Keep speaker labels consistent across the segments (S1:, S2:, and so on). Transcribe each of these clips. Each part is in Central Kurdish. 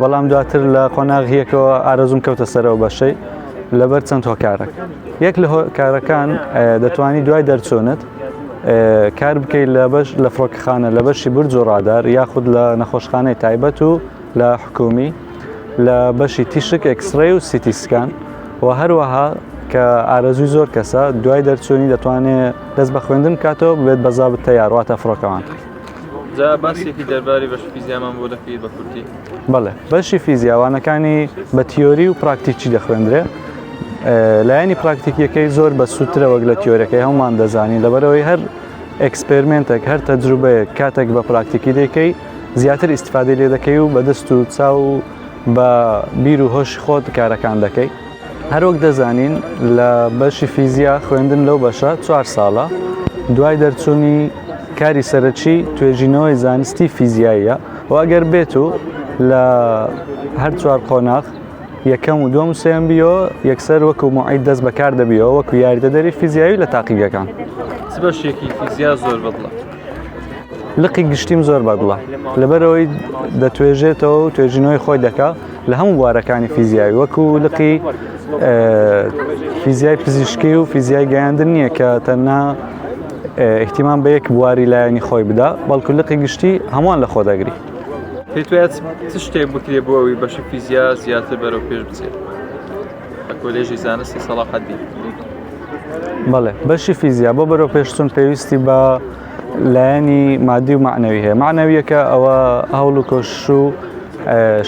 S1: بەڵام دواتر لە قۆناغی یەکەوە ئارەزووم کەوتە سەر ئەو بەشەی لەبەر چەند هۆکارەک یەک لە هۆکارەکان دەتوانی دوای دەرچوونت کار بکەیت لە بەش لە فڕۆکەخانە لە بەشی برج و ڕادار یاخود لە نەخۆشخانەی تایبەت و لە حکومی لە بەشی تیشک ئەکسڕێ و سیتیسکان و هەروەها کە ئارەزوی زۆر کەسە دوای دەرچوونی دەتوانێت دەست بە خوێندن کاتەوە بێت بەزابت تەیارواتە فڕۆکەوان. جا
S2: باسێکی دەرباری بەش فیزیامان بۆ دەکەیت بە کورتی بەڵێ بەشی
S1: فیزیاوانەکانی بە تیۆری و پراکتیکی دەخوێندرێ لایەنی پراکتیکیەکەی زۆر بە سووترە وەک لە تیۆرەکەی هەمومان دەزانین لەبەرەوەی هەر ئەکسپرمنتێک هەر تەجروبەیە کاتێک بە پراکتیکی دەکەی زیاتر ئیسفادی لێ دەکەی و بەدەست و چاو و بە بیر و هۆش خۆت کارەکان دەکەی هەروەک دەزانین لە بەشی فیزیا خوێندن لەو بەشە چوار ساڵە دوای دەرچوونی کاری سەرەکی توێژینەوەی زانستی فیزیاییە و ئەگەر بێت و لە هەر چوار قۆناغ یەکەم و دوم سێم بیۆ یەکسەر وەکو معید دەست بەکار دەبیەوە وەکو یاریدە دەری فیزیاوی لە تاقیگەکان بەشێکی
S2: فیزیا زۆر بەڵە
S1: لقی گشتیم زۆر بەدڵە لەبەرەوەی دەتوێژێتەوە و توێژینەوەی خۆی دەکات لە هەموو بوارەکانی فیزیای وەکو لقی فیزیای پزیشکی و فیزیای گەیاندن نییە کە تەنها احتیمان بە یەک بواری لایەنی خۆی بدا بەڵکو لقی گشتی هەمووان لە خۆ دەگری پێتوێت چ
S2: شتێک بکرێ بۆ ئەوی بەشی فیزیا زیاتر بەرەو پێش بچێت لە کۆلێژی زانستی سەڵاحەدی
S1: بەڵێ بەشی فیزیا بۆ بەرەو پێشتون پێویستی بە لایەنی مادی و معنەوی هەیە معنەویەکە ئەوە هەوڵ و کۆش و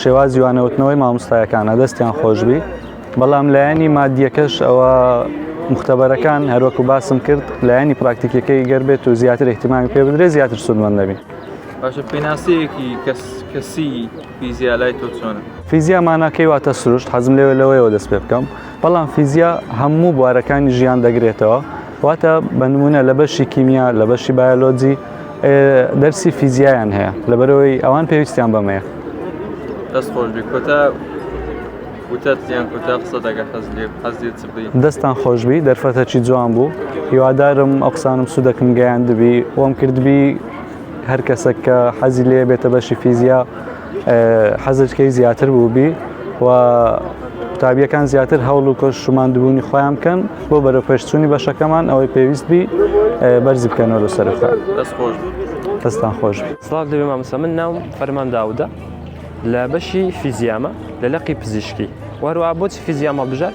S1: شێوازی وانەوتنەوەی مامۆستایەکانە دەستیان خۆشببی بەڵام لایەنی مادیەکەش ئەوە مختبەرەکان هەروەکو باسم کرد لایەنی پراکتیکەکەی گەر بێت و زیاتر احتیمامی پێ بدرێت زیاتر سوودمەند دەبین باشە
S2: پێناسەیەکی کەس کەسی فیزیا لای تۆ چۆنە؟ فیزیا ماناکەی
S1: واتە سروشت حەزم لەوێ لەوەیەوە دەست پێ بکەم بەڵام فیزیا هەموو بوارەکانی ژیان دەگرێتەوە واتە بە نمونە لە بەشی کیمیا لە بەشی بایۆلۆجی دەرسی فیزیایان هەیە لەبەرەوەی ئەوان پێویستیان بەمەیە دەست
S2: خۆش بی کۆتا دەستان خۆشببی
S1: دەرفەتەکی جوان بوو هیوادارم ئەقسانم سوودەکم گەیاندبی وەم کردبی هەر کەسەک کە حەزی لێ بێتە بەشی فیزیا حەزکەی زیاتر بووبی و قوتابیەکان زیاتر هەوڵ و کۆش شماندبوونی خۆیان بکەن بۆ بەرە پێشچوونی بەشەکەمان ئەوەی پێویست بی بەرزی بکەنەوە لە سەرخۆ
S2: دەستان خۆش
S1: سلااف دەبێ مامەسە من
S3: ناوم فەرمان داودە لە بەشی فیزیامە لە لەقی پزیشکی وەروە بۆچ فیزیام هەڵبژات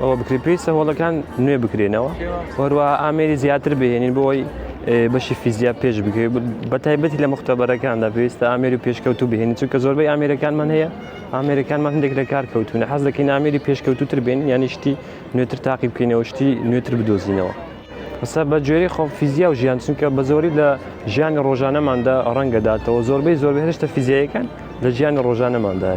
S3: ئەوە بکرێت پێی سەهۆڵەکان نوێ بکرێنەوە هەروە ئامێری زیاتر بهێنین بۆی بەشی فیزیا پێش بکرێت بە تایبەتی لە مختبەرەکاندا پێویستە ئامێری پێشکەوت و بهێنین چونکە زۆربەی ئامێرەکانمان هەیە ئامێرەکانمان هەندێک لە کار کەوتونە حەز دەکەین ئامێری پێشکەوتوتر بێن یانی شتی نوێتر تاقی بکەینەوە شتی نوێتر بدۆزینەوە. قسە بە جۆری خۆ فیزیا و ژیان چونکە بە زۆری لە ژیانی ڕۆژانەماندا ڕەنگەداتەوە زۆربەی زۆربە هێشتە فیزیایەکان لە ژیانی ڕۆژانەمانداە.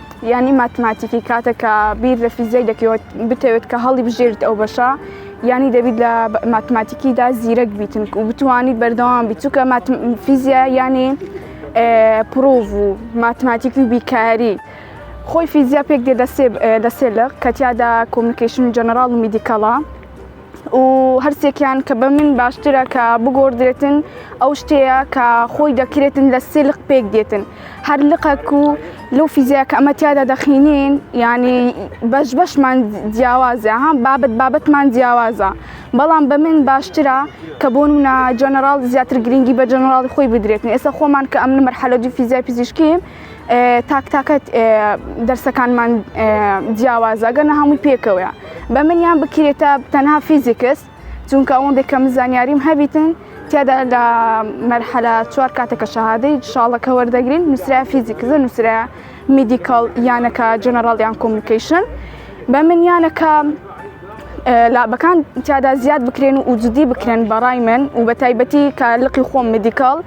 S4: یانی ماتماتیکی کاتە کە بیر لە فیزیای دەکەوت بتەوێت کە هەڵی بژێرت ئەو بەشە یانی دەبیت لە ماتماتیکیدا زیرەک بیتن و بتوانیت بەردەوام بیت چووکە فیزیا یانی پرۆڤ و ماتماتیکی و بیکاری. خۆی فیزیا پێک دێ دەسێ دەسێ لە کەتیادا کۆمنیکیشن جەنەراڵ و میدیکەڵە. و هەرسێکیان کە بە من باشترە کە بگۆڕدرێتن ئەو شتەیە کە خۆی دەکرێتن لە سێ لق پێک دێتن هەر لقەک و لەو فیزیا کە ئەمە تیادا دەخینین ینی بەش بەشمان جیاوازە ها بابەت بابەتمان جیاوازە بەڵام بە من باشترە کە بۆ منە جەنەراڵ زیاتر گرنگی بە جەنەراڵی خۆی بدرێتن ئێستا خۆمان کە ئەمن مەرحەلەجی فیزیا پزیشکیم تاک تاکەت دەرسەکانمان جیاوازە گەنە هەمووی پێکەوەە بە منیان بکرێتە تەنها فیزیکس چونکە ئەوەن دەکەم زانیاریم هەبیتن تیادا لە مەرحەلە چوار کاتەکە شەهادەی شاڵەکە وەردەگرین نووسرا فیزیکزە نووسرا میدیکال یانەکە جەنەرال یان کۆمیکیشن بە من یانەکە لابەکان تیادا زیاد بکرێن و وجودی بکرێن بەڕای من و بە تایبەتی کە لقی خۆم میدیکال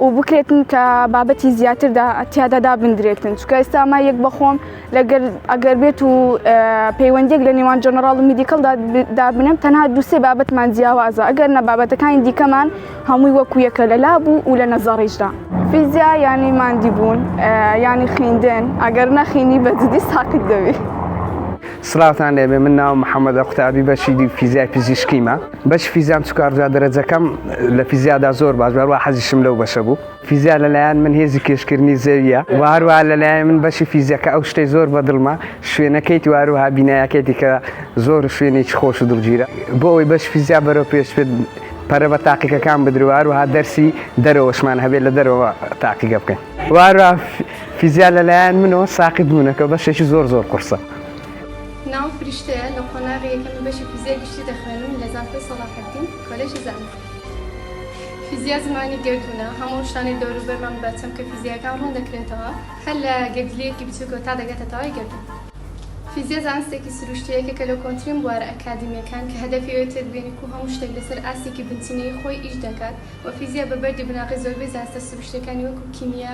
S4: و بکرێتن کە بابەتی زیاتردا تیادا دابدرێتن چکە ئێستا ما یەک بەخۆم لەگەر ئەگەر بێت و پەیوەندێک لە نێوان جەنەڕاڵ و میدیکەڵدا دابنم تەنها دوسێ بابەتمان جیاوازە ئەگەر نە بابەتەکانی دیکەمان هەمووی وەکو یەکە لە لا بوو و لە نەزەڕیشدا فیزیا ینی مادی بوون ینی خیندن ئەگەر نەخینی بەجددی ساقیت دەوی.
S5: سڵاوتان لێبێ من ناوم محەمەدە قوتابی بەشی فیزیای پزیشکیمە. بەشی فیزیام چکارجا دەرەجەکەم لە فیزیادا زۆر باش هەروە حەزیشم لەو بەشە بوو فیزیا لەلایەن من هێزی کێشکردنی زەویە و هەروە لەلایەن من بەشی فیزیەکە ئەو شتەی زۆر بە دڵمە شوێنەکەیت واروها بینایەکەیتی کە زۆر شوێنێکی خۆش و دڵگیرە بۆ ئەوی بەش فیزیا بەرەو پێش بێت پەرە بە تاقیەکان بدرو هەروها دەرسی دەرەوەشمان هەبێت لە دەرەوە تاقیگە بکەین وارا فیزیا لەلایەن منەوە ساقیت بوونەکە بەشێکی زۆر زۆر قرسە. ناوم
S6: فریشتەیە لە قۆناغی یەکەمی بەشی فیزیای گشتی دەخوێنم لە زانکۆی سەڵاحەدین کۆلێژی زانکۆ فیزیا زمانی گەردوونە هەموو ئەو شتانەی دەوروبەرمان بە چەمکە فیزیایەکان ڕوون دەکرێنتەوە هەر لە گەردیلەیەکی بچووکەوە تا دەگاتە تەوای گەردوون فیزیا زانستێکی سروشتیە یەکێکە لە کۆنترین بوارە ئەکادیمیەکان کە هەدەفی ئەوەیە تێبگەین کو هەموو شتێک لەسەر ئاستێکی بنچینەیی خۆی ئیش دەکات وە فیزیا بە بەردی بناغەی زۆربەی زانستە سروشتیەکانی وەکو کیمیا